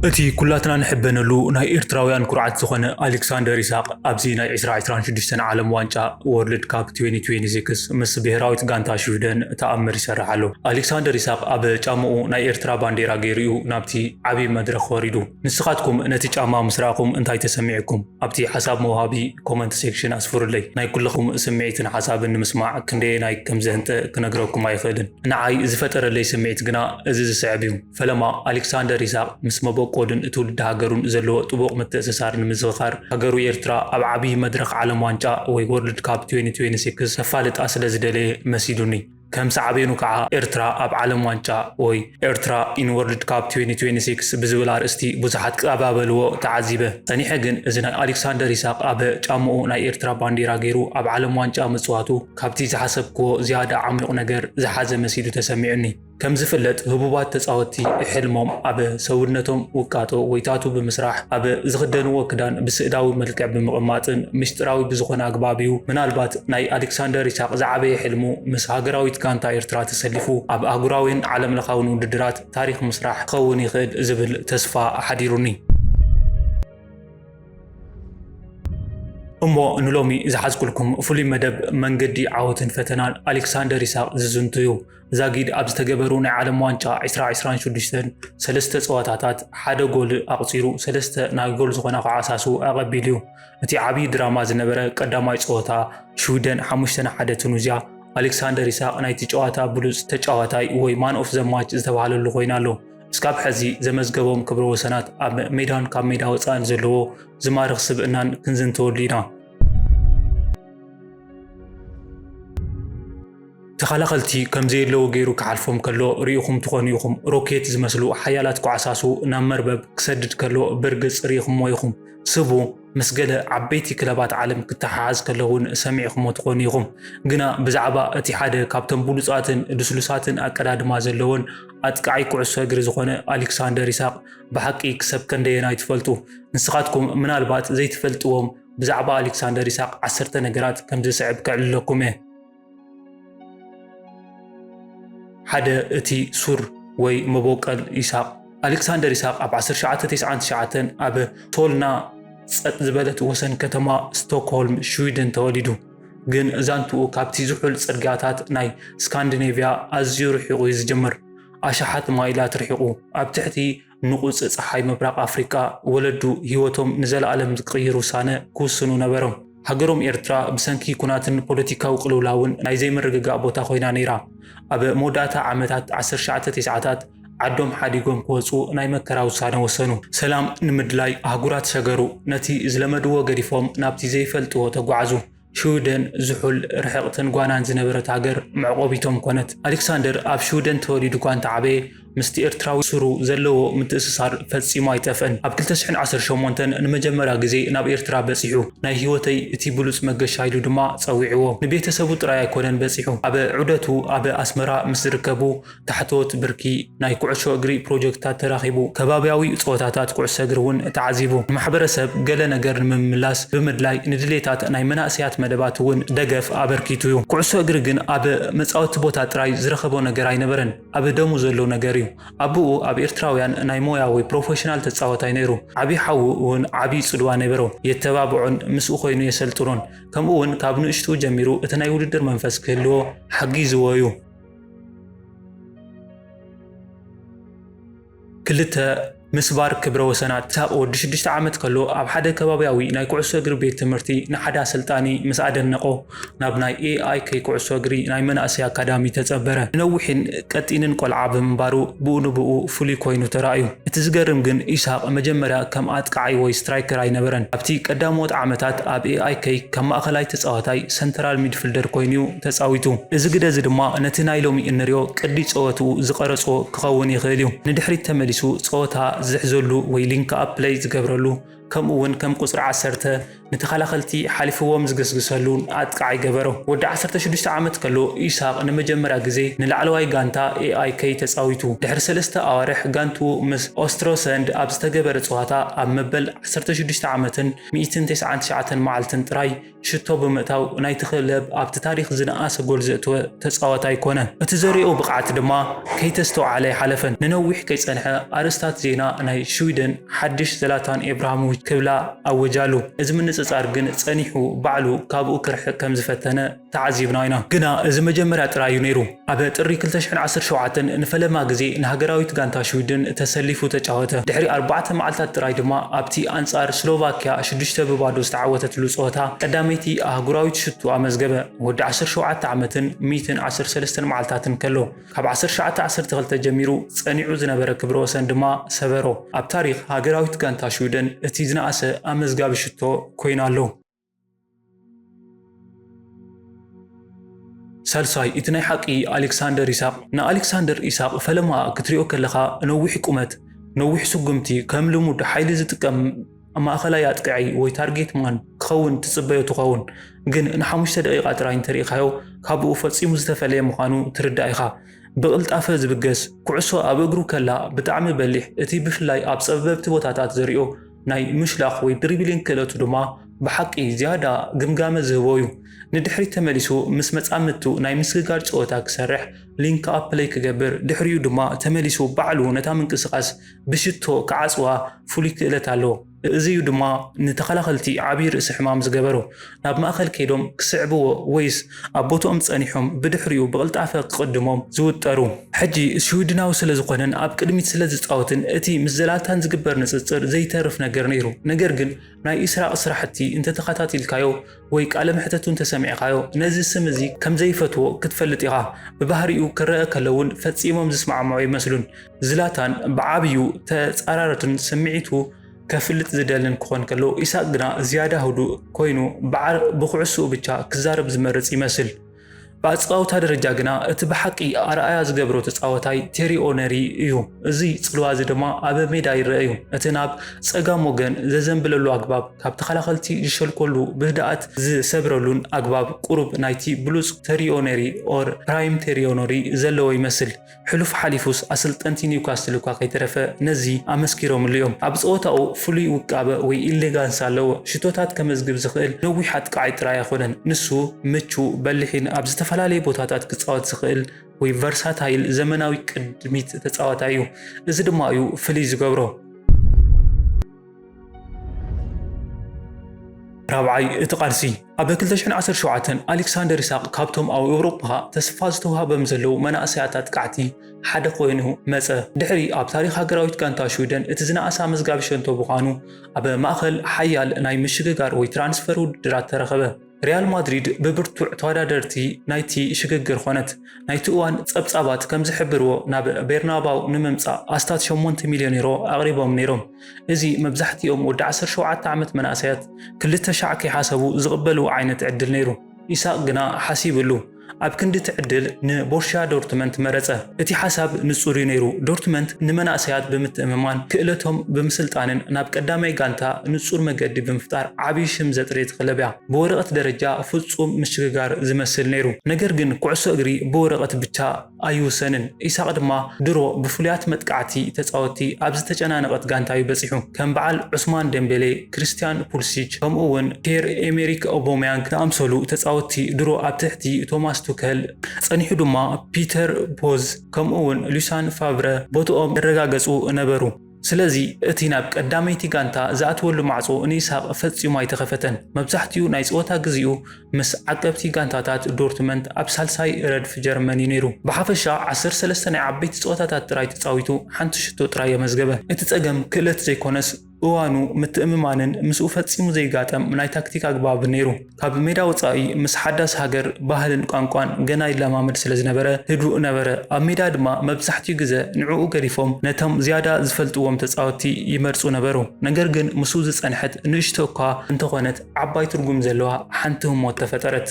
እቲ ኩላትና ንሕበነሉ ናይ ኤርትራውያን ኩርዓት ዝኾነ ኣሌክሳንደር ኢሳቕ ኣብዚ ናይ ዕስራ ዕስራን ሽዱሽተን ዓለም ዋንጫ ወርልድ ካፕ ትዌኒ ትዌኒ ሲክስ ምስ ብሄራዊት ጋንታ ሽውደን ተኣምር ይሰርሕ ኣሎ። ኣሌክሳንደር ኢሳቕ ኣብ ጫምኡ ናይ ኤርትራ ባንዴራ ገይሩ'ዩ ናብቲ ዓቢ መድረኽ ወሪዱ። ንስኻትኩም ነቲ ጫማ ምስ ረኣኹም እንታይ ተሰሚዑኩም? ኣብቲ ሓሳብ መውሃቢ ኮመንት ሴክሽን ኣስፍሩለይ። ናይ ኩልኹም ስምዒትን ሓሳብን ንምስማዕ ክንደየናይ ከምዘህንጠ ክነግረኩም ኣይኽእልን። ንዓይ ዝፈጠረለይ ስምዒት ግና እዚ ዝስዕብ እዩ። ፈለማ ኣሌክሳንደር ይስሃቅ ምስ መበቆሉን ትውልዲ ሃገሩን ዘለዎ ጥቡቕ ምትእስሳር ንምዝኽኻር ሃገሩ ኤርትራ ኣብ ዓብዪ መድረኽ ዓለም ዋንጫ ወይ ወርልድ ካብ ትዌኒ ትዌኒ ሲክስ ከፋልጣ ስለ ዝደለየ መሲሉኒ። ከም ሳዕቤኑ ከዓ ኤርትራ ኣብ ዓለም ዋንጫ ወይ ኤርትራ ኢን ወርልድ ካፕ ትዌኒ ትዌኒ ሲክስ ብዝብል ኣርእስቲ ብዙሓት ክቀባበልዎ ተዓዚበ። ጸኒሐ ግን እዚ ናይ ኣሌክሳንደር ይስሃቅ ኣብ ጫምኡ ናይ ኤርትራ ባንዴራ ገይሩ ኣብ ዓለም ዋንጫ ምጽዋቱ ካብቲ ዝሓሰብክዎ ዝያዳ ዓሚቝ ነገር ዝሓዘ መሲሉ ተሰሚዑኒ። ከም ዝፍለጥ ህቡባት ተጻወትቲ ሕልሞም ኣብ ሰውነቶም ውቃጦ ወይ ታቱ ብምስራሕ፣ ኣብ ዝኽደንዎ ክዳን ብስእላዊ መልክዕ ብምቕማጥን ምስጢራዊ ብዝኾነ ኣግባብ እዩ። ምናልባት ናይ ኣሌክሳንደር ኢሳቕ ዝዓበየ ሕልሙ ምስ ሃገራዊት ጋንታ ኤርትራ ተሰሊፉ ኣብ ኣህጉራዊን ዓለምለኻዊን ውድድራት ታሪኽ ምስራሕ ክኸውን ይኽእል ዝብል ተስፋ ሓዲሩኒ። እሞ ንሎሚ ዝሓዝኩልኩም ፍሉይ መደብ መንገዲ ዓወትን ፈተናን ኣሌክሳንደር ይስሃቅ ዝዝንቱ እዩ። ዛጊድ ኣብ ዝተገበሩ ናይ ዓለም ዋንጫ 2026 ሰለስተ ጸወታታት ሓደ ጎል ኣቕጺሩ ሰለስተ ናይ ጎል ዝኾና ከዓ ሳሱ ኣቐቢሉ እዩ። እቲ ዓብዪ ድራማ ዝነበረ ቀዳማይ ጸወታ ሽዊደን 5 ንሓደ ቱኒዝያ ኣሌክሳንደር ይስሃቅ ናይቲ ጨዋታ ብሉጽ ተጫዋታይ ወይ ማን ኦፍ ዘማች ዝተባሃለሉ ኮይኑ ኣሎ። እስካብ ሐዚ ዘመዝገቦም ክብረ ወሰናት ኣብ ሜዳን ካብ ሜዳ ወፃእን ዘለዎ ዝማርኽ ስብእናን ክንዝንተወሉ ኢና። ተኸላኸልቲ ከምዘየለዉ ገይሩ ክሓልፎም ከሎ ርኢኹም ትኾኑ ኢኹም። ሮኬት ዝመስሉ ሓያላት ኳዕሳሱ ናብ መርበብ ክሰድድ ከሎ ብርግፅ ርኢኹምዎ ኢኹም። ስቡ ምስ ገለ ዓበይቲ ክለባት ዓለም ክተሓሓዝ ከሎ እውን ሰሚዕክሞ ትኾኑ ኢኹም። ግና ብዛዕባ እቲ ሓደ ካብቶም ብሉጻትን ልስሉሳትን ኣቀዳድማ ዘለዎን ኣጥቃዓይ ኩዕሶ እግሪ ዝኾነ ኣሊክሳንደር ኢሳቕ ብሓቂ ክሰብ ከንደየናይ ትፈልጡ? ንስኻትኩም ምናልባት ዘይትፈልጥዎም ብዛዕባ ኣሊክሳንደር ኢሳቕ ዓሰርተ ነገራት ከምዚ ዝስዕብ ከዕልለኩም እየ። ሓደ እቲ ሱር ወይ መቦቀል ይስሃቅ ኣሌክሳንደር ይስሃቅ ኣብ ዓሰርተ ትሽዓተ ቴስዓን ትሽዓተን ኣብ ሶልና ጸጥ ዝበለት ወሰን ከተማ ስቶክሆልም ሽዊድን ተወሊዱ። ግን ዛንትኡ ካብቲ ዝሑል ጽርግያታት ናይ ስካንዲኔቭያ ኣዝዩ ርሒቑ'ዩ ዝጅምር። ኣሽሓት ማይላት ርሒቑ፣ ኣብ ትሕቲ ንቑጽ ጸሓይ ምብራቕ ኣፍሪቃ ወለዱ ህይወቶም ንዘለኣለም ዝቅይር ውሳነ ክውስኑ ነበሮም። ሃገሮም ኤርትራ ብሰንኪ ኩናትን ፖለቲካዊ ቅልውላውን ናይ ዘይምርግጋእ ቦታ ኮይና ነይራ። ኣብ መወዳእታ ዓመታት ዓሰርተ ትሽዓታት ዓዶም ሓዲጎም ክወጹ ናይ መከራ ውሳነ ወሰኑ። ሰላም ንምድላይ ኣህጉራት ሸገሩ። ነቲ ዝለመድዎ ገዲፎም ናብቲ ዘይፈልጥዎ ተጓዕዙ። ሽውደን ዝሑል፣ ርሕቕትን ጓናን ዝነበረት ሃገር መዕቆቢቶም ኮነት። ኣሌክሳንደር ኣብ ሽውደን ተወሊዱ'ኳ እንተዓበየ፣ ምስቲ ኤርትራዊ ሱሩ ዘለዎ ምትእስሳር ፈጺሙ ኣይጠፍአን። ኣብ ክልተ ሽሕን ዓሰርተ ሸሞንተን ንመጀመርያ ግዜ ናብ ኤርትራ በጺሑ። ናይ ህይወተይ እቲ ብሉጽ መገሻ ኢሉ ድማ ጸዊዕዎ። ንቤተሰቡ ጥራይ ኣይኮነን በጺሑ፣ ኣብ ዑደቱ ኣብ ኣስመራ ምስ ዝርከቡ፣ ታሕተዎት ብርኪ ናይ ኩዕሾ እግሪ ፕሮጀክትታት ተራኺቡ፣ ከባብያዊ ጸወታታት ኩዕሶ እግሪ እውን ተዓዚቡ። ንማሕበረሰብ ገለ ነገር ንምምላስ ብምድላይ ንድሌታት ናይ መናእሰያት መደባት እውን ደገፍ ኣበርኪቱ እዩ። ኩዕሶ እግሪ ግን ኣብ መጻወቲ ቦታ ጥራይ ዝረኸቦ ነገር ኣይነበረን፣ ኣብ ደሙ ዘሎ ነገር እዩ። ኣቡኡ ኣብ ኤርትራውያን ናይ ሞያ ወይ ፕሮፈሽናል ተጻወታይ ነይሩ። ዓቢ ሓዉ እውን ዓቢ ጽልዋ ነበሮ። የተባብዖን ምስኡ ኮይኑ የሰልጥኖን። ከምኡውን ካብ ንእሽትኡ ጀሚሩ እቲ ናይ ውድድር መንፈስ ክህልዎ ሓጊዝዎ እዩ። ክልተ፣ ምስባር ክብረ ወሰናት፣ ኢሳቕ ወዲ ሽዱሽተ ዓመት ከሎ ኣብ ሓደ ከባብያዊ ናይ ኩዕሶ እግሪ ቤት ትምህርቲ ንሓደ ኣሰልጣኒ ምስ ኣደነቖ ናብ ናይ ኤኣይኬ ኩዕሶ እግሪ ናይ መናእሰይ ኣካዳሚ ተጸበረ። ንነዊሕን ቀጢንን ቆልዓ ብምንባሩ ብኡ ንብኡ ፍሉይ ኮይኑ ተራእዩ። እቲ ዝገርም ግን ኢሳቕ መጀመርያ ከም ኣጥቃዓይ ወይ ስትራይከር ኣይነበረን። ኣብቲ ቀዳሞት ዓመታት ኣብ ኤኣይኬ ካብ ማእከላይ ተጻዋታይ፣ ሰንተራል ሚድፍልደር፣ ኮይኑ'ዩ ተጻዊቱ። እዚ ግደ እዚ ድማ ነቲ ናይ ሎሚ እንሪኦ ቅዲ ጸወትኡ ዝቐረጾ ክኸውን ይኽእል እዩ። ንድሕሪት ተመሊሱ ጸወታ ዝሕዘሉ ወይ ሊንክኣፕ ፕለይ ዝገብረሉ ከምኡ'ውን ከም ቁጽሪ ዓሰርተ ንተኸላኸልቲ ሓሊፍዎም ዝግስግሰሉ ኣጥቃዓይ ገበሮ። ወዲ ዓሰርተ ሽዱሽተ ዓመት ከሎ ኢሳቕ ንመጀመርያ ግዜ ንላዕለዋይ ጋንታ AIK ተጻዊቱ። ድሕሪ ሰለስተ ኣዋርሕ ጋንትኡ ምስ ኦስትሮሰንድ ኣብ ዝተገበረ ጸዋታ ኣብ መበል ዓሰርተ ሽዱሽተ ዓመትን ሚእትን ተስዓን ትሽዓተን መዓልትን ጥራይ ሽቶ ብምእታው ናይቲ ክለብ ኣብቲ ታሪኽ ዝነኣሰ ጎል ዘእተወ ተጻዋታይ ኮነ። እቲ ዘርእዮ ብቕዓት ድማ ከይተስተውዓለ ኣይሓለፈን። ንነዊሕ ከይጸንሐ ኣርእስታት ዜና ናይ ሽዊደን ሓድሽ ዘላታን ኤብራሃሞቪች ክብላ ኣወጃሉ። እዚ ምንጽጻር ግን ጸኒሑ ባዕሉ ካብኡ ክርሕቕ ከም ዝፈተነ ተዓዚብና ኢና። ግና እዚ መጀመርያ ጥራይ እዩ ነይሩ። ኣብ ጥሪ ክልተ ሽሕን ዓሰርተ ሸውዓተን ንፈለማ ግዜ ንሃገራዊት ጋንታ ሽዊድን ተሰሊፉ ተጫወተ። ድሕሪ ኣርባዕተ መዓልታት ጥራይ ድማ ኣብቲ ኣንጻር ስሎቫክያ ሽዱሽተ ብ ባዶ ዝተዓወተትሉ ጸወታ ቀዳመይቲ ኣህጉራዊት ሹቱ ኣመዝገበ። ወዲ ዓሰርተ ሸውዓተ ዓመትን ሚእትን ዓሰርተ ሰለስተን መዓልታትን ከሎ ካብ ዓሰርተ ትሽዓተ ዓሰርተ ክልተ ጀሚሩ ጸኒዑ ዝነበረ ክብረ ወሰን ድማ ሰበሮ። ኣብ ታሪኽ ሃገራዊት ጋንታ ሽዊደን እቲ ዝነኣሰ ኣመዝጋቢ ሹቶ ኮይኑ ኣሎ። ሳልሳይ፣ እቲ ናይ ሓቂ ኣሌክሳንደር ኢሳቕ፣ ንኣሌክሳንደር ኢሳቕ ፈለማ ክትሪኦ ከለኻ ነዊሕ ቁመት፣ ነዊሕ ስጉምቲ፣ ከም ልሙድ ሓይሊ ዝጥቀም ማእኸላይ ኣጥቃዒ ወይ ታርጌት ማን ክኸውን ትጽበዮ ትኸውን፣ ግን ንሓሙሽተ ደቂቓ ጥራይ እንተሪኢኻዮ ካብኡ ፈጺሙ ዝተፈለየ ምዃኑ ትርዳእ ኢኻ። ብቕልጣፈ ዝብገስ፣ ኩዕሶ ኣብ እግሩ ከላ ብጣዕሚ በሊሕ፣ እቲ ብፍላይ ኣብ ጸበብቲ ቦታታት ዘሪኦ፣ ናይ ምሽላኽ ወይ ድሪብሊንግ ክእለቱ ድማ ብሓቂ ዝያዳ ግምጋመ ዝህቦ እዩ። ንድሕሪት ተመሊሱ ምስ መጻምድቱ ናይ ምስግጋር ጸወታ ክሰርሕ፣ ሊንክ ኣፕ ፕለይ ክገብር፣ ድሕሪኡ ድማ ተመሊሱ ባዕሉ ነታ ምንቅስቓስ ብሽቶ ክዓጽዋ ፍሉይ ክእለት ኣለዎ። እዚ እዩ ድማ ንተኸላኸልቲ ዓቢ ርእሲ ሕማም ዝገበሮ። ናብ ማእከል ከይዶም ክስዕብዎ ወይስ ኣብ ቦትኦም ጸኒሖም ብድሕሪኡ ብቕልጣፈ ክቕድሞም ዝውጠሩ? ሕጂ ሽዊድናዊ ስለ ዝኾነን ኣብ ቅድሚት ስለ ዝጻወትን እቲ ምስ ዘላታን ዝግበር ንጽጽር ዘይተርፍ ነገር ነይሩ። ነገር ግን ናይ ኢስራቕ ስራሕቲ እንተ ተኸታቲልካዮ ወይ ቃለ መሕተቱ እንተ ሰሚዕካዮ ነዚ ስም እዚ ከም ዘይፈትዎ ክትፈልጥ ኢኻ። ብባህሪኡ ክረኣ ከሎ ውን ፈጺሞም ዝስማዕምዑ ኣይመስሉን። ዝላታን ብዓብዩ ተጻራርትን ስምዒቱ። ከፍልጥ ዝደልን ክኾን ከሎ፣ ኢሳቕ ግና ዝያዳ ህዱእ ኮይኑ ብኩዕሶኡ ብቻ ክዛረብ ዝመርጽ ይመስል። ብኣጸዋውታ ደረጃ ግና እቲ ብሓቂ ኣርኣያ ዝገብሮ ተጻወታይ ቴሪ ኦነሪ እዩ። እዚ ጽልዋ እዚ ድማ ኣብ ሜዳ ይረአ እዩ። እቲ ናብ ጸጋም ወገን ዘዘንብለሉ ኣግባብ፣ ካብ ተኸላኸልቲ ዝሸልኮሉ ብህድኣት ዝሰብረሉን ኣግባብ ቁሩብ ናይቲ ብሉጽ ተሪ ኦነሪ ኦር ፕራይም ቴሪ ኦነሪ ዘለዎ ይመስል። ሕሉፍ ሓሊፉስ ኣሰልጠንቲ ኒውካስትል እኳ ከይተረፈ ነዚ ኣመስኪሮምሉ እዮም። ኣብ ጸወታኡ ፍሉይ ውቃበ ወይ ኢሌጋንስ ኣለዎ። ሽቶታት ከመዝግብ ዝኽእል ነዊሕ ኣጥቃዓይ ጥራይ ኣይኮነን። ንሱ ምቹእ፣ በሊሕን ኣብ ዝተፈላለየ ቦታታት ክጻወት ዝኽእል ወይ ቨርሳታይል ዘመናዊ ቅድሚት ተጻዋታይ እዩ። እዚ ድማ እዩ ፍልይ ዝገብሮ። ራብዓይ፣ እቲ ቃልሲ ኣብ ክልተ ሽሕን ዓሰርተ ሸውዓተን ኣሌክሳንደር ይስሃቅ ካብቶም ኣብ ኤውሮጳ ተስፋ ዝተውሃበም ዘለዉ መናእሰያት ኣጥቃዕቲ ሓደ ኮይኑ መጸ። ድሕሪ ኣብ ታሪኽ ሃገራዊት ጋንታ ሽወደን እቲ ዝነኣሰ ኣመዝጋቢ ሸቶ ብምዃኑ ኣብ ማእከል ሓያል ናይ ምሽግጋር ወይ ትራንስፈር ውድድራት ተረኸበ። ሪያል ማድሪድ ብብርቱዕ ተወዳደርቲ ናይቲ ሽግግር ኾነት። ናይቲ እዋን ጸብጻባት ከም ዝሕብርዎ ናብ ቤርናባው ንምምጻእ ኣስታት ሸሞንተ ሚልዮን ዩሮ ኣቕሪቦም ነይሮም። እዚ መብዛሕትኦም ወዲ ዓሰርተ ሸውዓተ ዓመት መናእሰያት ክልተ ሻዕ ከይሓሰቡ ዝቕበልዎ ዓይነት ዕድል ነይሩ። ኢሳቕ ግና ሓሲብሉ። ኣብ ክንዲ ትዕድል ንቦርሽያ ዶርትመንት መረጸ። እቲ ሓሳብ ንጹር እዩ ነይሩ፣ ዶርትመንት ንመናእሰያት ብምትእምማን ክእለቶም ብምስልጣንን ናብ ቀዳማይ ጋንታ ንጹር መገዲ ብምፍጣር ዓቢ ሽም ዘጥርየት ክለብ እያ። ብወረቐት ደረጃ ፍጹም ምሽግጋር ዝመስል ነይሩ፣ ነገር ግን ኩዕሶ እግሪ ብወረቐት ብቻ ኣይውሰንን። ኢሳቕ ድማ ድሮ ብፍሉያት መጥቃዕቲ ተጻወትቲ ኣብ ዝተጨናነቐት ጋንታ'ዩ በጺሑ። ከም በዓል ዑስማን ደምቤሌ፣ ክርስትያን ፑልሲች፣ ከምኡ'ውን ፒየር-ኤሜሪክ ኦቦምያንግ ዝኣምሰሉ ተጻወትቲ ድሮ ኣብ ትሕቲ ቶማስ ቱከል፣ ጸኒሑ ድማ ፒተር ቦዝ ከምኡ'ውን ሉሳን ፋቭረ ቦትኦም ዘረጋገጹ ነበሩ። ስለዚ እቲ ናብ ቀዳመይቲ ጋንታ ዝኣትወሉ ማዕጾ ንኢሳቕ ፈጺሙ ኣይተኸፈተን። መብዛሕትኡ ናይ ጸወታ ግዜኡ ምስ ዓቀብቲ ጋንታታት ዶርትመንት ኣብ ሳልሳይ ረድፍ ጀርመን እዩ ነይሩ። ብሓፈሻ ዓሰርተ ሰለስተ ናይ ዓበይቲ ጸወታታት ጥራይ ተጻዊቱ ሓንቲ ሽቶ ጥራይ ኣመዝገበ። እቲ ጸገም ክእለት ዘይኮነስ እዋኑ፣ ምትእምማንን ምስኡ ፈጺሙ ዘይጋጠም ናይ ታክቲክ ኣግባብን ነይሩ። ካብ ሜዳ ወጻኢ ምስ ሓዳስ ሃገር፣ ባህልን ቋንቋን ገና ይለማመድ ስለ ዝነበረ ህዱእ ነበረ። ኣብ ሜዳ ድማ መብዛሕትኡ ግዘ ንዕኡ ገዲፎም ነቶም ዝያዳ ዝፈልጥዎም ተጻወትቲ ይመርጹ ነበሩ። ነገር ግን ምስኡ ዝጸንሐት ንእሽቶ እኳ እንተኾነት ዓባይ ትርጉም ዘለዋ ሓንቲ ህሞት ተፈጠረት።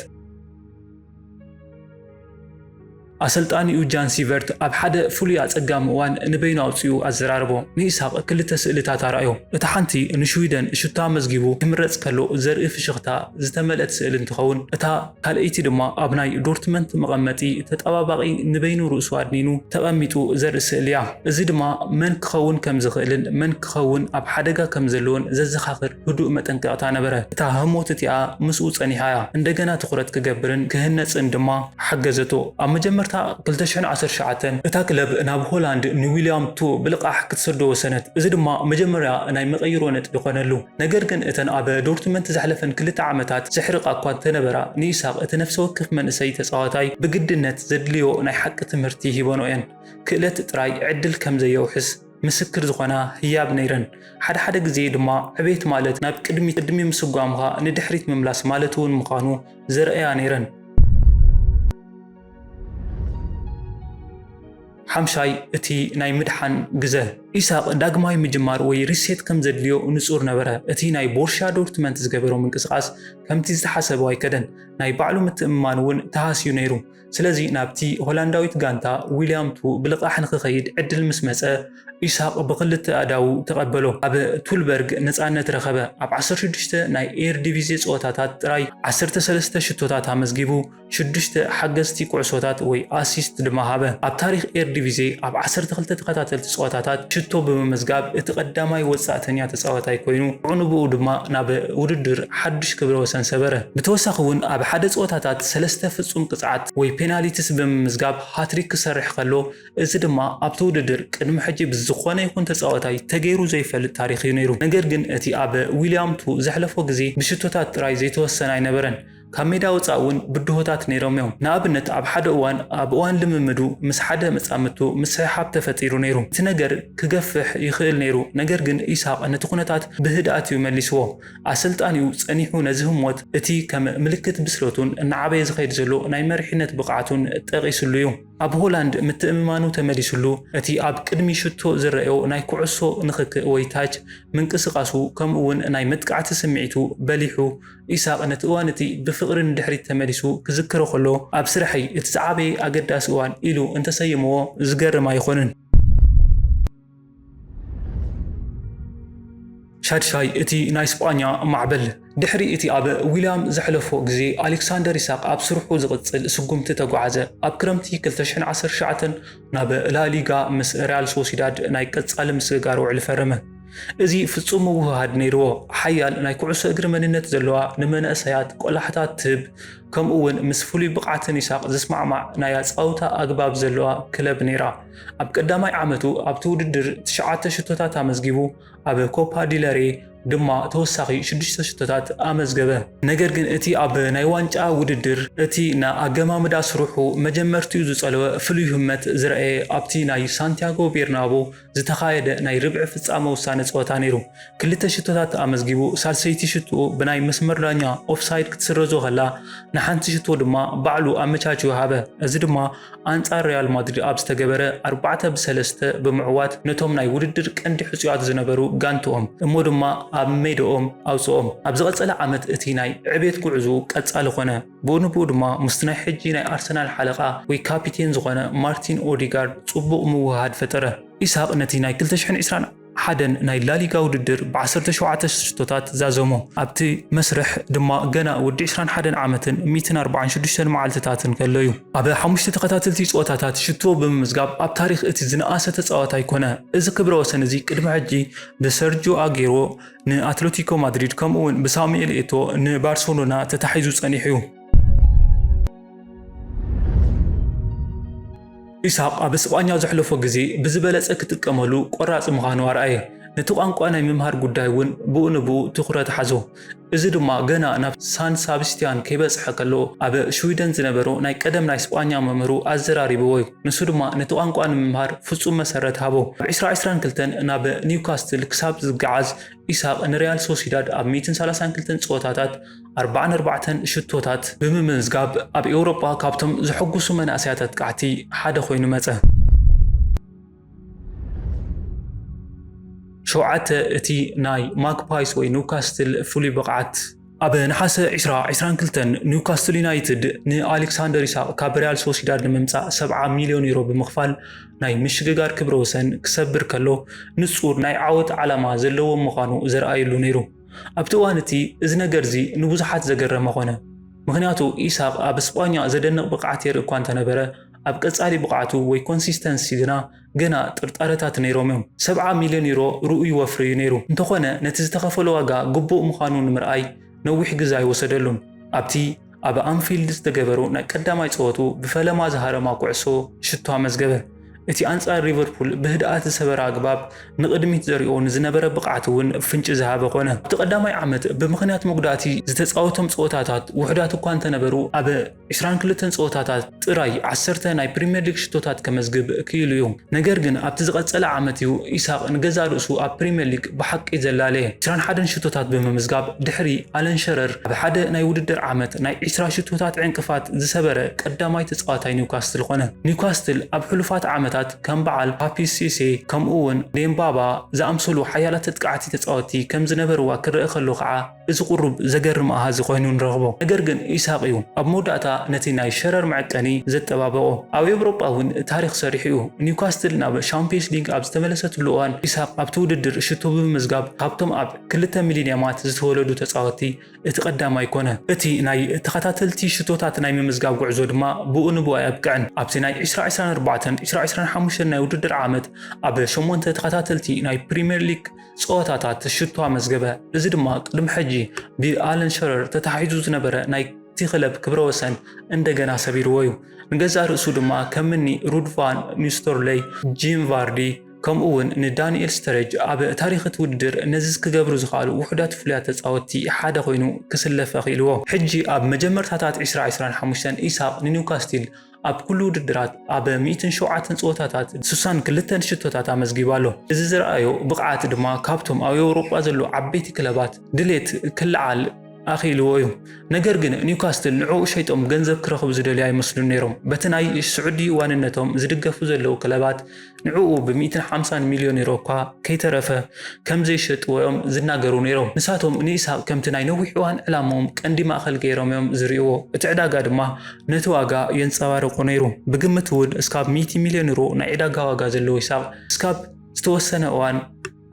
ኣሰልጣኒኡ ጃን ሲቨርት ኣብ ሓደ ፍሉይ ኣጸጋሚ እዋን ንበይኑ ኣውጺኡ ኣዘራረቦ። ንኢሳቕ ክልተ ስእልታት ኣርኣዮ። እታ ሓንቲ ንሽዊደን ሹቶ ኣመዝጊቡ ክምረጽ ከሎ ዘርኢ ፍሽኽታ ዝተመልአት ስእሊ እንትኸውን፣ እታ ካልኣይቲ ድማ ኣብ ናይ ዶርትመንት መቐመጢ ተጠባባቒ ንበይኑ ርእሱ ኣድኒኑ ተቐሚጡ ዘርኢ ስእሊ'ያ። እዚ ድማ መን ክኸውን ከም ዝኽእልን መን ክኸውን ኣብ ሓደጋ ከም ዘለዎን ዘዘኻኽር ህዱእ መጠንቀቕታ ነበረ። እታ ህሞት እቲኣ ምስኡ ጸኒሓ እያ፣ እንደገና ትኹረት ክገብርን ክህነጽን ድማ ሓገዘቶ። ኣብ መጀመርታ ክልተ ሽሕን ዓሰርተ ትሽዓተን፣ እታ ክለብ ናብ ሆላንድ ንዊልያም ቱ ብልቓሕ ክትሰዶ ወሰነት፣ እዚ ድማ መጀመርያ ናይ መቐይሮ ነጥቢ ኰነሉ። ነገር ግን እተን ኣብ ዶርትመንት ዘሕለፈን ክልተ ዓመታት ዘሕርቓ እኳ እንተነበራ፣ ንኢሳቕ እቲ ነፍሰ ወከፍ መንእሰይ ተጻዋታይ ብግድነት ዘድልዮ ናይ ሓቂ ትምህርቲ ሂበንኦ እየን። ክእለት ጥራይ ዕድል ከም ዘየውሕስ ምስክር ዝኾና ህያብ ነይረን። ሓደ ሓደ ግዜ ድማ ዕቤት ማለት ናብ ቅድሚት ቅድሚ ምስጓምካ ንድሕሪት ምምላስ ማለት እውን ምዃኑ ዘርእያ ነይረን። ሓምሻይ እቲ ናይ ምድሓን ግዘ። ኢሳቕ ዳግማይ ምጅማር ወይ ሪሴት ከም ዘድልዮ ንጹር ነበረ። እቲ ናይ ቦርሽያ ዶርትመንት ዝገበሮ ምንቅስቓስ ከምቲ ዝተሓሰቦ ኣይከደን፣ ናይ ባዕሉ ምትእምማን እውን ተሃስዩ ነይሩ። ስለዚ ናብቲ ሆላንዳዊት ጋንታ ዊልያም ቱ ብልቓሕ ንክኸይድ ዕድል ምስ መጸ፣ ኢሳቕ ብኽልተ ኣእዳዉ ተቐበሎ። ኣብ ቱልበርግ ነጻነት ረኸበ። ኣብ ዓሰርተ ሽዱሽተ ናይ ኤርዲቪዜ ጸወታታት ጥራይ ዓሰርተ ሰለስተ ሽቶታት ኣመዝጊቡ፣ ሽዱሽተ ሓገዝቲ ኩዕሶታት ወይ ኣሲስት ድማ ሃበ። ኣብ ታሪኽ ኤርዲቪዜ ኣብ ዓሰርተ ክልተ ተኸታተልቲ ጸወታታት ሽቶ ብምምዝጋብ እቲ ቀዳማይ ወጻእተኛ ተጻዋታይ ኮይኑ፣ ብኡንብኡ ድማ ናብ ውድድር ሓድሽ ክብረ ወሰን ሰበረ። ብተወሳኺ'ውን ኣብ ሓደ ጸወታታት፣ ሰለስተ ፍጹም ቅጽዓት ወይ ፔናሊቲስ ብምምዝጋብ ሃትሪክ ክሰርሕ ከሎ፣ እዚ ድማ ኣብቲ ውድድር ቅድሚ ሕጂ ብዝኾነ ይኹን ተጻዋታይ ተገይሩ ዘይፈልጥ ታሪኽ'ዩ ነይሩ። ነገር ግን እቲ ኣብ ዊልያም ቱ ዘሕለፎ ግዜ ብሽቶታት ጥራይ ዘይተወሰነ ኣይነበረን፣ ካብ ሜዳ ወጻኢ እውን ብድሆታት ነይሮም'ዮም። ንኣብነት ኣብ ሓደ እዋን ኣብ እዋን ልምምዱ ምስ ሓደ መጻምድቱ ምስሕሓብ ተፈጢሩ ነይሩ። እቲ ነገር ክገፍሕ ይኽእል ነይሩ፣ ነገር ግን ኢሳቕ ነቲ ኩነታት ብህድኣት'ዩ መሊስዎ። ኣሰልጣኒኡ ጸኒሑ ነዚ ህሞት እቲ ከም ምልክት ብስለቱን እናዓበየ ዝኸይድ ዘሎ ናይ መሪሕነት ብቕዓቱን ጠቒስሉ እዩ። ኣብ ሆላንድ ምትእምማኑ ተመሊስሉ፣ እቲ ኣብ ቅድሚ ሽቶ ዝረኣዮ ናይ ኩዕሶ ንኽክእ ወይ ታች ምንቅስቓሱ ከምኡ'ውን ናይ መጥቃዕቲ ስምዒቱ በሊሑ። ኢሳቕ ነቲ እዋን እቲ ብፍቕሪ ንድሕሪት ተመሊሱ ክዝክሮ ከሎ፣ ኣብ ስራሐይ እቲ ዝዓበየ ኣገዳሲ እዋን ኢሉ እንተሰይምዎ ዝገርም ኣይኮነን። ሻድሻይ እቲ ናይ ስጳኛ ማዕበል ድሕሪ እቲ ኣብ ዊልያም ዘሕለፎ ግዜ ኣሌክሳንደር ኢሳቕ ኣብ ስርሑ ዝቕጽል ስጉምቲ ተጓዓዘ። ኣብ ክረምቲ ክልተ ሽሕን ዓሰርተ ትሽዓተን ናብ ላሊጋ ምስ ሪያል ሶሲዳድ ናይ ቀጻሊ ምስግጋር ውዕሊ ፈረመ። እዚ ፍጹም ምውህሃድ ነይርዎ፣ ሓያል ናይ ኩዕሶ እግሪ መንነት ዘለዋ፣ ንመንእሰያት ቆላሕታ ትህብ፣ ከምኡ'ውን ምስ ፍሉይ ብቕዓትን ኢሳቕ ዝስማዕማዕ ናይ ኣጻውታ ኣግባብ ዘለዋ ክለብ ነይራ። ኣብ ቀዳማይ ዓመቱ ኣብቲ ውድድር ትሽዓተ ሽቶታት ኣመዝጊቡ፣ ኣብ ኮፓ ዲል ሬይ ድማ ተወሳኺ ሽዱሽተ ሽቶታት ኣመዝገበ። ነገር ግን እቲ ኣብ ናይ ዋንጫ ውድድር እቲ ንኣገማምዳ ስርሑ መጀመርትኡ ዝጸለወ ፍሉይ ህመት ዝረኣየ ኣብቲ ናይ ሳንቲያጎ ቤርናቦ ዝተኻየደ ናይ ርብዒ ፍጻመ ውሳነ ጸወታ ነይሩ። ክልተ ሽቶታት ኣመዝጊቡ፣ ሳልሰይቲ ሽትኡ ብናይ መስመር ዳኛ ኦፍሳይድ ክትስረዞ ከላ ንሓንቲ ሽቶ ድማ ባዕሉ ኣመቻችዩ ሃበ፣ እዚ ድማ ኣንጻር ሪያል ማድሪድ ኣብ ዝተገበረ ኣርባዕተ ብ ሰለስተ ብምዕዋት ነቶም ናይ ውድድር ቀንዲ ሕጹያት ዝነበሩ ጋንትኦም እሞ ድማ ኣብ ሜድኦም ኣውጽኦም። ኣብ ዝቐጸለ ዓመት እቲ ናይ ዕብየት ጉዕዝኡ ቀጻሊ ኮነ። ብኡ ንብኡ ድማ ምስቲ ናይ ሕጂ ናይ ኣርሰናል ሓለቓ ወይ ካፒቴን ዝኾነ ማርቲን ኦዲጋርድ ጽቡቕ ምውህሃድ ፈጠረ። ኢሳቕ ነቲ ናይ ክልተ ሽሕን ዕስራን ሓደን ናይ ላሊጋ ውድድር ብዓሰርተ ሸውዓተ ሽቶታት ዛዘሞ። ኣብቲ መስርሕ ድማ ገና ወዲ ዕስራን ሓደን ዓመትን ሚእትን ኣርብዓን ሽዱሽተን መዓልትታትን ከሎ'ዩ። ኣብ ሓሙሽተ ተኸታተልቲ ጸወታታት ሽቶ ብምምዝጋብ ኣብ ታሪኽ እቲ ዝነኣሰ ተጻዋታይ ኮነ። እዚ ክብረ ወሰን እዚ ቅድሚ ሕጂ ብሰርጂዮ ኣጌሮ ንኣትለቲኮ ማድሪድ ከምኡ'ውን ብሳሙኤል ኤቶ ንባርሰሎና ተታሒዙ ጸኒሑ'ዩ። ኢሳቕ ኣብ ስጳኛ ዘሕለፎ ግዜ ብዝበለጸ ክጥቀመሉ ቆራጽ ምዃኑ ኣርኣየ። ነቲ ቋንቋ ናይ ምምሃር ጉዳይ እውን ብኡ ንብኡ ትኹረት ሓዞ። እዚ ድማ ገና ናብ ሳን ሳብስቲያን ከይበጽሐ ከሎ ኣብ ሽዊደን ዝነበሮ ናይ ቀደም ናይ ስጳኛ መምህሩ ኣዘራሪብዎ እዩ። ንሱ ድማ ነቲ ቋንቋ ንምምሃር ፍጹም መሰረት ሃቦ። ኣብ ዕስራ ዕስራን ክልተን ናብ ኒውካስትል ክሳብ ዝገዓዝ ኢሳቕ ንሪያል ሶሲዳድ ኣብ ሚእትን ሰላሳን ክልተን ጸወታታት ኣርብዓን ኣርባዕተን ሽቶታት ብምምዝጋብ ኣብ ኤውሮጳ ካብቶም ዘሐጉሱ መናእሰያት ኣጥቃዕቲ ሓደ ኮይኑ መጸ። ሸውዓተ እቲ ናይ ማግፓይስ ወይ ኒውካስትል ፍሉይ ብቕዓት ኣብ ነሓሰ ዕስራ ዕስራን ክልተን ኒውካስትል ዩናይትድ ንኣሌክሳንደር ኢሳቕ ካብ ሪያል ሶሲዳድ ንምምጻእ ሰብዓ ሚልዮን ዩሮ ብምኽፋል ናይ ምሽግጋር ክብረ ወሰን ክሰብር ከሎ ንጹር ናይ ዓወት ዓላማ ዘለዎም ምዃኑ ዘርኣየሉ ነይሩ። ኣብቲ እዋን እቲ እዚ ነገር እዚ ንብዙሓት ዘገረመ ዀነ። ምኽንያቱ ኢሳቕ ኣብ ስጳኛ ዘደንቕ ብቕዓት የርኢ እኳ እንተ ነበረ፣ ኣብ ቀጻሊ ብቕዓቱ ወይ ኮንሲስተንሲ ግና ገና ጥርጣረታት ነይሮም ኢዮም። ሰብዓ ሚልዮን ዩሮ ርኡይ ወፍሪ ኢዩ ነይሩ፣ እንተዀነ ነቲ ዝተኸፈሎ ዋጋ ግቡእ ምዃኑ ንምርኣይ ነዊሕ ግዘ ኣይወሰደሉን። ኣብቲ ኣብ ኣንፊልድ ዝተገበሩ ናይ ቀዳማይ ጸወቱ ብፈለማ ዝሃረማ ኩዕሶ ሽቶ ኣመዝገበ። እቲ ኣንጻር ሊቨርፑል ብህድኣት ዝሰበረ ኣግባብ ንቕድሚት ዘሪኦ ንዝነበረ ብቕዓት እውን ፍንጪ ዝሃበ ኮነ። ኣብቲ ቀዳማይ ዓመት ብምኽንያት መጉዳእቲ ዝተጻወቶም ጸወታታት ውሑዳት እኳ እንተነበሩ፣ ኣብ ዕስራን ክልተን ጸወታታት ጥራይ ዓሰርተ ናይ ፕሪምየር ሊግ ሽቶታት ከመዝግብ ክኢሉ እዩ። ነገር ግን ኣብቲ ዝቐጸለ ዓመት እዩ ኢሳቕ ንገዛእ ርእሱ ኣብ ፕሪምየር ሊግ ብሓቂ ዘላለ። ዕስራን ሓደን ሽቶታት ብምምዝጋብ ድሕሪ ኣለን ሸረር ኣብ ሓደ ናይ ውድድር ዓመት ናይ ዕስራ ሽቶታት ዕንቅፋት ዝሰበረ ቀዳማይ ተጻዋታይ ኒውካስትል ኾነ። ኒውካስትል ኣብ ሕሉፋት ዓመታት ከም በዓል ፓፒስ ሲሴ ከምኡ'ውን ዴምባባ ዝኣምሰሉ ሓያላት ኣጥቃዕቲ ተጻወትቲ ከም ዝነበርዋ ክረኣ ከሎ ከኣ፣ እዚ ቁሩብ ዘገርም ኣሃዝ ኮይኑ ንረኽቦ። ነገር ግን ኢሳቕ እዩ ኣብ መወዳእታ ነቲ ናይ ሸረር መዐቀኒ ዘጠባበቖ። ኣብ ኤውሮጳ እውን ታሪኽ ሰሪሑ እዩ። ኒውካስትል ናብ ሻምፕዮንስ ሊግ ኣብ ዝተመለሰትሉ እዋን ኢሳቕ ኣብቲ ውድድር ሽቶ ብምምዝጋብ ካብቶም ኣብ ክልተ ሚሊንያማት ዝተወለዱ ተጻወትቲ እቲ ቀዳማይ ኮነ። እቲ ናይ ተኸታተልቲ ሽቶታት ናይ ምምዝጋብ ጉዕዞ ድማ ብኡ ንብኡ ኣየብቅዕን። ኣብቲ ናይ ዕስራ ዕስራን ኣርባዕተን፣ ዕስራ ዕስራን ሓሙሽተን ናይ ውድድር ዓመት ኣብ ሸሞንተ ተኸታተልቲ ናይ ፕሪምየር ሊግ ጸወታታት ሽቶ ኣመዝገበ፣ እዚ ድማ ቅድሚ ሕጂ ብኣለን ሸረር ተታሒዙ ዝነበረ ናይ እቲ ክለብ ክብረ ወሰን እንደገና ሰቢርዎ እዩ። ንገዛእ ርእሱ ድማ ከምኒ ሩድ ቫን ኒስተርሎይ፣ ጂም ቫርዲ ከምኡ'ውን ንዳንኤል ስተረጅ ኣብ ታሪኽ እቲ ውድድር ነዚ ክገብሩ ዝኸኣሉ ውሑዳት ፍሉያት ተጻወትቲ ሓደ ኮይኑ ክስለፍ ኣኽኢልዎ። ሕጂ ኣብ መጀመርታታት ዕስራ ዕስራን ሓሙሽተን ኢሳቕ ንኒውካስቲል ኣብ ኩሉ ውድድራት ኣብ ሚእትን ሸውዓተን ጸወታታት ስሳን ክልተን ሽቶታት ኣመዝጊቡ ኣሎ። እዚ ዝረኣዮ ብቕዓት ድማ ካብቶም ኣብ ኤውሮጳ ዘለዉ ዓበይቲ ክለባት ድሌት ክለዓል ኣኽኢልዎ እዩ። ነገር ግን ኒውካስትል ንዕኡ ሸይጦም ገንዘብ ክረኽቡ ዝደልዩ ኣይመስሉን ነይሮም። በቲ ናይ ስዑዲ ዋንነቶም ዝድገፉ ዘለዉ ክለባት ንዕኡ ብሚእትን ሓምሳን ሚልዮን ዩሮ እኳ ከይተረፈ ከም ዘይሸጥዎ'ዮም ዝናገሩ ነይሮም። ንሳቶም ንኢሳቕ ከምቲ ናይ ነዊሕ እዋን ዕላምኦም ቀንዲ ማእከል ገይሮም'ዮም ዝርእይዎ፣ እቲ ዕዳጋ ድማ ነቲ ዋጋ የንጸባርቖ ነይሩ። ብግምት'ውን እስካብ ሚእቲ ሚልዮን ዩሮ ናይ ዕዳጋ ዋጋ ዘለዎ ኢሳቕ እስካብ ዝተወሰነ እዋን፣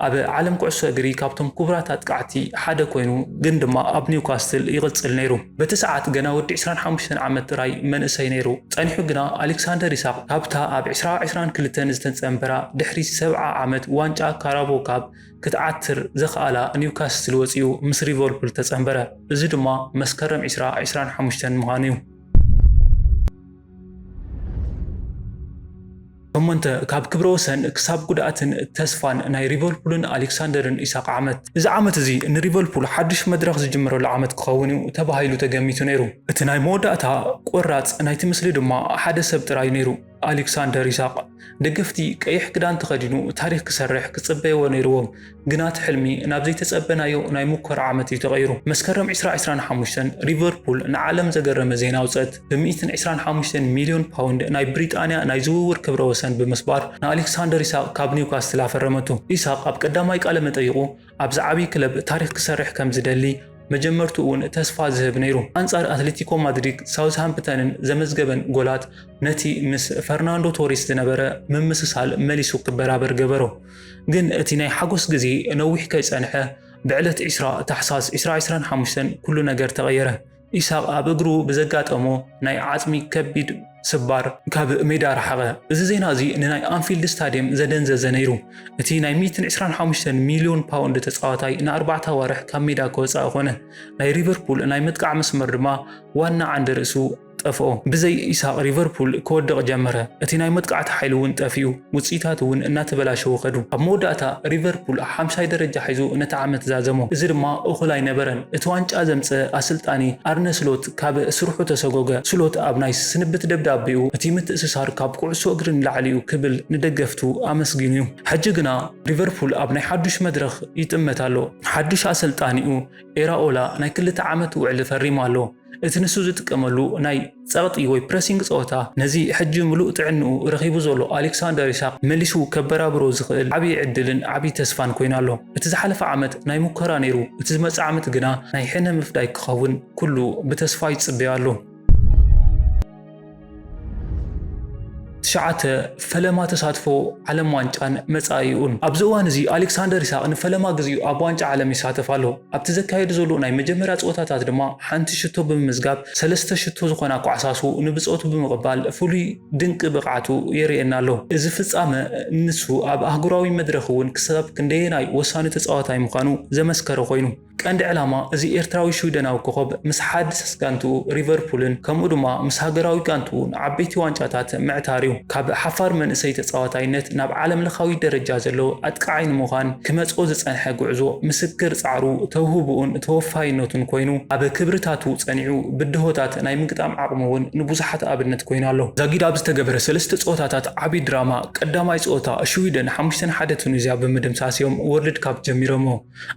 ኣብ ዓለም ኩዕሶ እግሪ ካብቶም ኩቡራት ኣጥቃዕቲ ሓደ ኮይኑ ግን ድማ ኣብ ኒውካስትል ይቕጽል ነይሩ። በቲ ሰዓት ገና ወዲ ዕስራን ሓሙሽተን ዓመት ጥራይ መንእሰይ ነይሩ። ጸኒሑ ግና ኣሌክሳንደር ኢሳቕ ካብታ ኣብ ዕስራ ዕስራን ክልተን ዝተጸንበራ ድሕሪ ሰብዓ ዓመት ዋንጫ ካራቦ ካብ ክትዓትር ዘኽኣላ ኒውካስትል ወጺኡ ምስ ሊቨርፑል ተጸንበረ። እዚ ድማ መስከረም ዕስራ ዕስራን ሓሙሽተን ምዃኑ'ዩ። ሸሞንተ፣ ካብ ክብረወሰን ክሳብ ጉድኣትን ተስፋን ናይ ሊቨርፑልን ኣሌክሳንደርን ኢሳቕ ዓመት። እዚ ዓመት እዚ ንሊቨርፑል ሓድሽ መድረኽ ዝጅምረሉ ዓመት ክኸውን እዩ ተባሂሉ ተገሚቱ ነይሩ። እቲ ናይ መወዳእታ ቆራጽ ናይቲ ምስሊ ድማ ሓደ ሰብ ጥራይ እዩ ነይሩ፣ ኣሌክሳንደር ኢሳቕ። ደገፍቲ ቀይሕ ክዳን ተኸዲኑ ታሪኽ ክሰርሕ ክጽበይዎ ነይርዎም። ግና እቲ ሕልሚ ናብ ዘይተጸበናዮ ናይ ሙኮራ ዓመት እዩ ተቐይሩ። መስከረም ዕስራ ዕስራን ሓሙሽተን፣ ሊቨርፑል ንዓለም ዘገረመ ዜና ኣውጸት፣ ብሚእትን ዕስራን ሓሙሽተን ሚልዮን ፓውንድ ናይ ብሪጣንያ ናይ ዝውውር ክብረ ወሰን ብምስባር ንኣሌክሳንደር ኢሳቕ ካብ ኒውካስትል ኣፈረመቱ። ኢሳቕ ኣብ ቀዳማይ ቃለ መጠይቑ ኣብዚ ዓቢ ክለብ ታሪኽ ክሰርሕ ከም ዝደሊ መጀመርትኡ'ውን ተስፋ ዝህብ ነይሩ። ኣንጻር ኣትሌቲኮ ማድሪድ ሳውዝሃምፕተንን ዘመዝገበን ጎላት ነቲ ምስ ፈርናንዶ ቶሪስ ዝነበረ ምምስሳል መሊሱ ክበራበር ገበሮ። ግን እቲ ናይ ሓጎስ ግዜ ነዊሕ ከይጸንሐ ብዕለት ዕስራ ታሕሳስ ዕስራ ዕስራን ሓሙሽተን ኩሉ ነገር ተቐየረ። ኢሳቕ ኣብ እግሩ ብዘጋጠሞ ናይ ዓጽሚ ከቢድ ስባር ካብ ሜዳ ረሓቐ። እዚ ዜና እዚ ንናይ ኣንፊልድ ስታድየም ዘደንዘዘ ነይሩ። እቲ ናይ ሚእትን ዕስራን ሓሙሽተን ሚልዮን ፓውንድ ተጻዋታይ ንኣርባዕተ ኣዋርሕ ካብ ሜዳ ክወጽኣ ኮነ። ናይ ሊቨርፑል ናይ ምጥቃዕ መስመር ድማ ዋና ዓንዲ ርእሱ ጠፍኦ። ብዘይ ኢሳቕ ሊቨርፑል ክወድቕ ጀመረ፣ እቲ ናይ መጥቃዕቲ ሓይሉ እውን ጠፊኡ፣ ውጽኢታቱ እውን እናተበላሸዉ ከዱ። ኣብ መወዳእታ ሊቨርፑል ሓምሻይ ደረጃ ሒዙ ነቲ ዓመት ዛዘሞ፣ እዚ ድማ እኹል ኣይነበረን። እቲ ዋንጫ ዘምጽእ ኣሰልጣኒ ኣርነ ስሎት ካብ ስርሑ ተሰጎገ። ስሎት ኣብ ናይ ስንብት ደብዳቤኡ እቲ ምትእስሳር ካብ ኩዕሶ እግሪ ንላዕሊ እዩ ክብል ንደገፍቱ ኣመስጊኑ እዩ። ሕጂ ግና ሊቨርፑል ኣብ ናይ ሓዱሽ መድረኽ ይጥመት ኣሎ። ሓዱሽ ኣሰልጣኒኡ ኤራኦላ ናይ ክልተ ዓመት ውዕሊ ፈሪሙ ኣሎ። እቲ ንሱ ዝጥቀመሉ ናይ ጸቕጢ ወይ ፕረሲንግ ጸወታ ነዚ ሕጂ ምሉእ ጥዕንኡ ረኺቡ ዘሎ ኣሌክሳንደር ኢሳቕ መሊሱ ከበራብሮ ዝኽእል ዓቢ ዕድልን ዓቢ ተስፋን ኮይኑ ኣሎ። እቲ ዝሓለፈ ዓመት ናይ ሙከራ ነይሩ፣ እቲ ዝመጽእ ዓመት ግና ናይ ሕነ ምፍዳይ ክኸውን ኩሉ ብተስፋ ይጽበዮ ኣሎ። ትሽዓተ፣ ፈለማ ተሳትፎ ዓለም ዋንጫን መጻኢኡን። ኣብዚ እዋን እዚ ኣሌክሳንደር ኢሳቕ ንፈለማ ግዜኡ ኣብ ዋንጫ ዓለም ይሳተፍ ኣሎ። ኣብቲ ዘካየዱ ዘሎ ናይ መጀመርያ ጸወታታት ድማ ሓንቲ ሽቶ ብምምዝጋብ ሰለስተ ሽቶ ዝኾና ኳዕሳሱ ንብጾቱ ብምቕባል ፍሉይ ድንቂ ብቕዓቱ የርእየና ኣሎ። እዚ ፍጻመ ንሱ ኣብ ኣህጉራዊ መድረኽ'ውን ክሳብ ክንደየናይ ወሳኒ ተጻዋታይ ምዃኑ ዘመስከረ ኮይኑ። ቀንዲ ዕላማ እዚ ኤርትራዊ ሽዊደናዊ ኮኾብ ምስ ሓድስ ጋንትኡ ሪቨርፑልን ከምኡ ድማ ምስ ሃገራዊ ጋንትኡ ንዓበይቲ ዋንጫታት ምዕታር'ዩ። ካብ ሓፋር መንእሰይ ተጻዋታይነት ናብ ዓለምለኻዊ ደረጃ ዘለዎ ኣጥቃዓይ ንምዃን ክመጽኦ ዝጸንሐ ጉዕዞ ምስክር ጻዕሩ፣ ተውህቡኡን ተወፋይነቱን ኮይኑ ኣብ ክብርታቱ ጸኒዑ ብድሆታት ናይ ምግጣም ዓቕሙ'ውን ንብዙሓት ኣብነት ኮይኑ ኣሎ። ዛጊድ ኣብ ዝተገበረ ሰለስተ ጸወታታት ዓቢ ድራማ ቀዳማይ ጸወታ ሽዊደን ሓሙሽተ ንሓደ ቱኒዝያ ብምድምሳስ'ዮም ወርልድ ካፕ ጀሚሮሞ።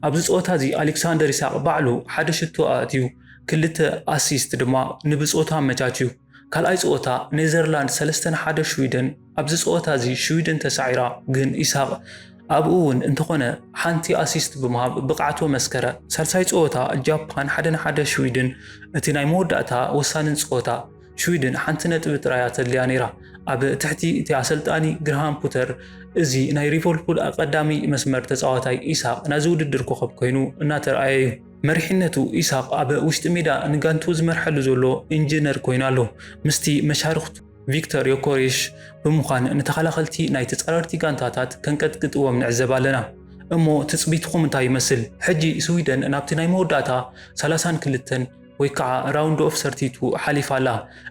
ኣብዚ ጸወታ እዚ ኣሌክሳንደር ኢሳቕ ባዕሉ ሓደ ሽቶ ኣእትዩ፣ ክልተ ኣሲስት ድማ ንብጾቱ ኣመቻችዩ። ካልኣይ ጸወታ ኔዘርላንድ ሰለስተ ን ሓደ ሽዊደን፣ ኣብዚ ጸወታ እዚ ሽዊደን ተሳዒራ ግን ኢሳቕ ኣብኡ እውን እንተኾነ ሓንቲ ኣሲስት ብምሃብ ብቕዓቱ ኣመስከረ። ሳልሳይ ጸወታ ጃፓን ሓደ ን ሓደ ሽዊድን እቲ ናይ መወዳእታ ወሳንን ጸወታ፣ ሽዊድን ሓንቲ ነጥቢ ጥራይ እያ ተድልያ ነይራ። ኣብ ትሕቲ እቲ ኣሰልጣኒ ግርሃም ፑተር እዚ ናይ ሊቨርፑል ቀዳሚ መስመር ተጻዋታይ ኢሳቕ ናዚ ውድድር ኮኸብ ኮይኑ እናተርኣየ እዩ። መሪሕነቱ ኢሳቕ ኣብ ውሽጢ ሜዳ ንጋንትኡ ዝመርሐሉ ዘሎ ኢንጂነር ኮይኑ ኣሎ። ምስቲ መሻርኽቱ ቪክተር ዮኮሬሽ ብምዃን ንተኸላኸልቲ ናይ ተጻረርቲ ጋንታታት ከንቀጥቅጥዎም ንዕዘብ ኣለና። እሞ ትጽቢትኹም እንታይ ይመስል? ሕጂ ስዊደን ናብቲ ናይ መወዳእታ ሰላሳን ክልተን ወይ ከዓ ራውንድ ኦፍ ሰርቲቱ ሓሊፋ ኣላ።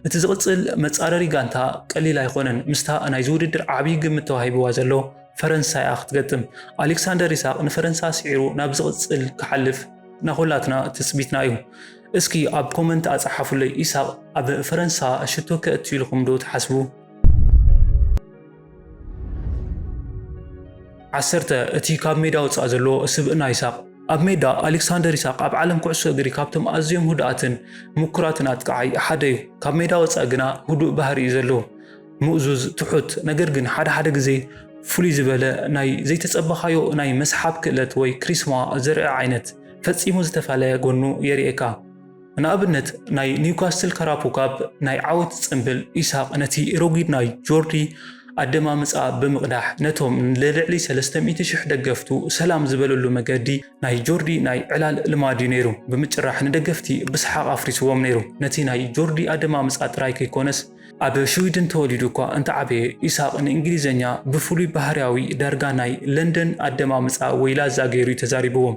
እቲ ዝቕፅል መፃረሪ ጋንታ ቀሊል ኣይኾነን፣ ምስታ ናይዚ ውድድር ዓብዪ ግምት ተዋሂብዋ ዘሎ ፈረንሳ እያ ክትገጥም። ኣሌክሳንደር ኢሳቕ ንፈረንሳ ስዒሩ ናብ ዝቕፅል ክሓልፍ ናኹላትና ትፅቢትና እዩ። እስኪ ኣብ ኮመንት ኣፀሓፉለይ ኢሳቕ ኣብ ፈረንሳ ሽቶ ከእቱ ኢልኹም ዶ ትሓስቡ? ዓሰርተ፣ እቲ ካብ ሜዳ ወጻኢ ዘሎ ስብእና ኢሳቕ ኣብ ሜዳ፣ ኣሌክሳንደር ኢሳቕ ኣብ ዓለም ኩዕሶ እግሪ ካብቶም ኣዝዮም ህዱኣትን ምኩራትን ኣጥቃዓይ ሓደ እዩ። ካብ ሜዳ ወጻኢ ግና ህዱእ ባህሪ እዩ ዘለዎ። ምእዙዝ፣ ትሑት፣ ነገር ግን ሓደ ሓደ ግዜ ፍሉይ ዝበለ ናይ ዘይተጸበኻዮ ናይ መስሓብ ክእለት ወይ ክሪስማ ዘርኢ ዓይነት ፈጺሙ ዝተፈለየ ጎኑ የርእየካ። ንኣብነት ናይ ኒውካስትል ካራፖ ካፕ ናይ ዓወት ጽንብል ኢሳቕ ነቲ ረጒድ ናይ ጆርዲ ኣደማምጻ ብምቕዳሕ ነቶም ንልዕሊ ሰለስተ ሚእቲ ሽሕ ደገፍቱ ሰላም ዝበለሉ መገዲ ናይ ጆርዲ ናይ ዕላል ልማድዩ ነይሩ ብምጭራሕ ንደገፍቲ ብስሓቕ ኣፍሪስዎም ነይሩ ነቲ ናይ ጆርዲ ኣደማምጻ ጥራይ ከይኮነስ ኣብ ሽዊድን ተወሊዱ እኳ እንተዓበየ ኢሳቕ ንእንግሊዘኛ ብፍሉይ ባህርያዊ ዳርጋ ናይ ለንደን ኣደማምጻ ወይ ላዛ ገይሩዩ ተዛሪብዎም።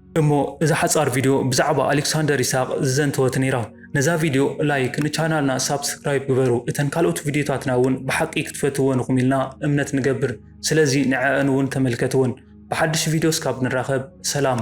እሞ እዛ ሓጻር ቪድዮ ብዛዕባ ኣሌክሳንደር ይስሃቅ ዝዘንተወት ነይራ። ነዛ ቪድዮ ላይክ ንቻናልና ሳብስክራይብ ግበሩ እተን ካልኦት ቪድዮታትና እውን ብሓቂ ክትፈትውወን ኢኹም ኢልና እምነት ንገብር ስለዚ ንዐኣን እውን ተመልከትወን። ብሓድሽ ቪድዮ እስካብ ንራኸብ ሰላም።